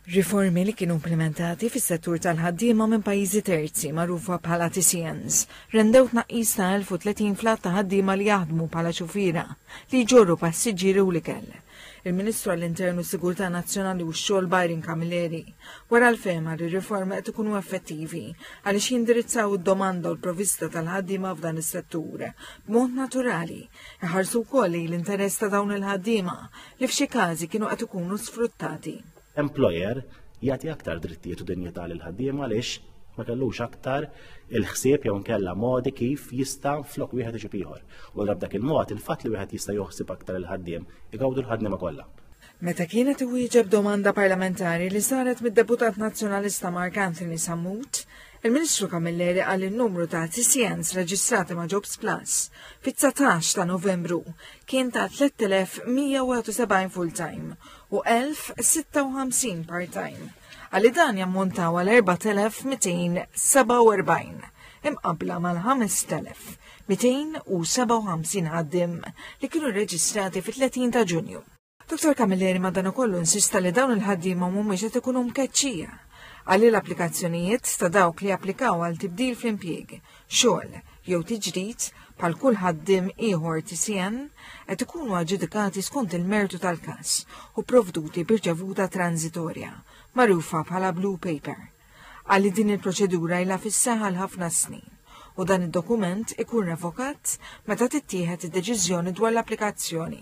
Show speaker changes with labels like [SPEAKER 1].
[SPEAKER 1] Riformi li kienu implementati fis-settur tal-ħaddiema minn pajjiżi terzi magħrufa bħala TCNs rendew tnaqqis ta' 1030 fl-għadd ta' ħaddiema li jaħdmu bħala xufiera li jġorru passiġġieri u l-ikel. Il-Ministru għall-Intern u Sigurtà Nazzjonali u x-Xogħol Byron Camilleri wara l-fehma li r-riformi qed ikunu effettivi għaliex jindirizzaw id-domanda u l-provista tal-ħaddiema f'dan is-settur b'mod naturali Iħarsu wkoll li l-interess ta' dawn il-ħaddiema li f'xi każi kienu qed ikunu sfruttati. Employer
[SPEAKER 2] jagħti aktar drittijiet u dinjità lil ħaddiema għaliex ma kellux aktar il-ħsieb jew nkella modi kif jista' flok wieħed iġib ieħor. U dak il-mod il-fatt li wieħed jista' joħsib aktar il-ħaddiem igawdu l-ħaddiema kollha. Meta kienet
[SPEAKER 1] iwieġeb domanda parlamentari li saret mid-Deputat Nazzjonalista Mark Anthony Sammut, il-Ministru Camilleri qal li n-numru ta' TCNs reġistrati ma' Jobs Plus fit-19 ta' Novembru kien ta' 3171 full-time u 1056 part-time, għalli dan jammontaw għal 4247 imqabbla mal-5257 ħaddiem li kienu rreġistrati fit-30 ta' Ġunju. Dr. Camilleri madankollu insista li dawn il-ħaddiema mhumiex qed ikunu mkeċċija għalli l-applikazzjonijiet ta' dawk li applikaw għal tibdil fl-impjieg, xogħol jew tiġdid bħal kull ħaddim ieħor TCN qed ikunu aġġudikati skont il-mertu tal-każ u provduti b'irċevuta transitorja, magħrufa bħala Blue Paper. Għalli din il-proċedura ilha fis-saħħa ħafna snin u dan id-dokument ikun revokat meta tittieħed id-deċiżjoni dwar l-applikazzjoni.